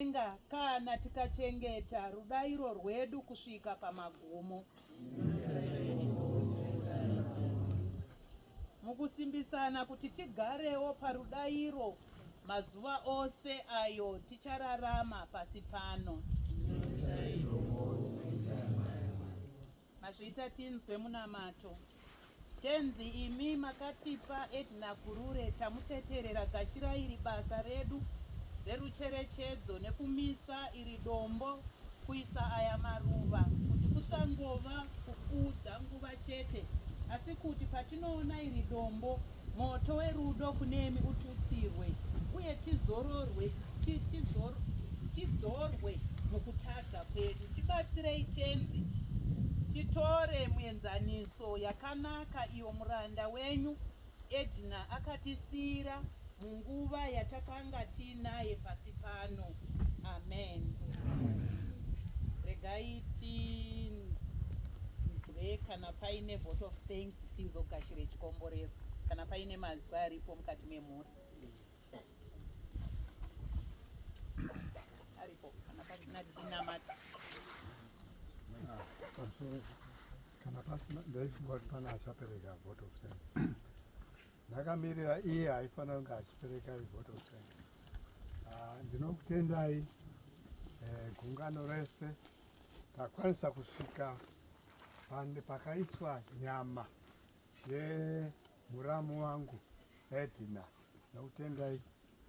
Kudenga, kana tikachengeta rudairo rwedu kusvika pamagumo. Mukusimbisana kuti tigarewo parudairo mazuva ose ayo tichararama pasi pano. Mazviita tinzwe munamato. Tenzi imi makatipa Edna Gurure tamuteterera gashirai iri basa redu rerucherechedzo nekumisa iri dombo kuisa aya maruva kuti kusangova kupfuudza nguva chete asi kuti patinoona iri dombo Moto werudo kunemi ututsirwe, uye tizororwe, ti, tizor, tidzorwe mukutadza kwedu. Tibatsirei, Tenzi, titore muenzaniso yakanaka iyo muranda wenyu Edna akatisiyira munguva yatakanga tiinaye pasi pano. Amen. Regai tinzwe kana paine vote of thanks. tizogashire chikomborero kana paine mazwi aripo mukati memhuri aripo kana pasina tinamata kana pasina ndaifunga kuti pana achapereka vote of sense ndakamirira iye aifanira kunge achipereka vote of sense ah, ndinokutendai eh, gungano rese takwanisa kusvika pande pakaiswa nyama yemuramu wangu Edna Nokutendai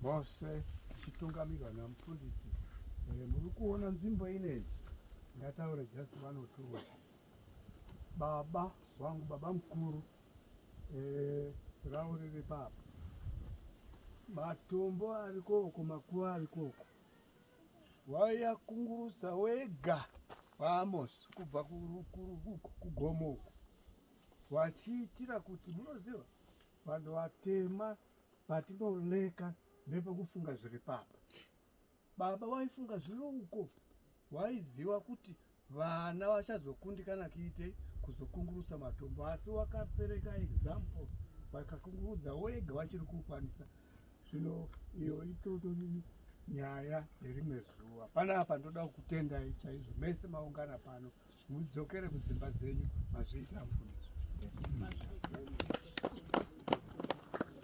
mose ichitungamirwa namufundisi. Eh, muri kuona nzvimbo inei, ngataure just one or two words. Baba wangu, baba mukuru, eh, ravo riri papa, matombo arikoko, makuva arikoko, waiya kungurutsa wega kwaAmosi kubva kugomo uku vachiitira kuti munoziva vanhu vatema patinoleka nepekufunga zviri papa baba waifunga zviri uko waiziva kuti Vana vachazokundikana kuite kuzokungurutsa matombo asi wakapereka example vakakungurudza wega vachiri kukwanisa zvino iyo itoto nyaya yerimwe zuva panapa ndoda kukutendai chaizvo mese maungana pano mudzokere kudzimba dzenyu mazviita mfundisi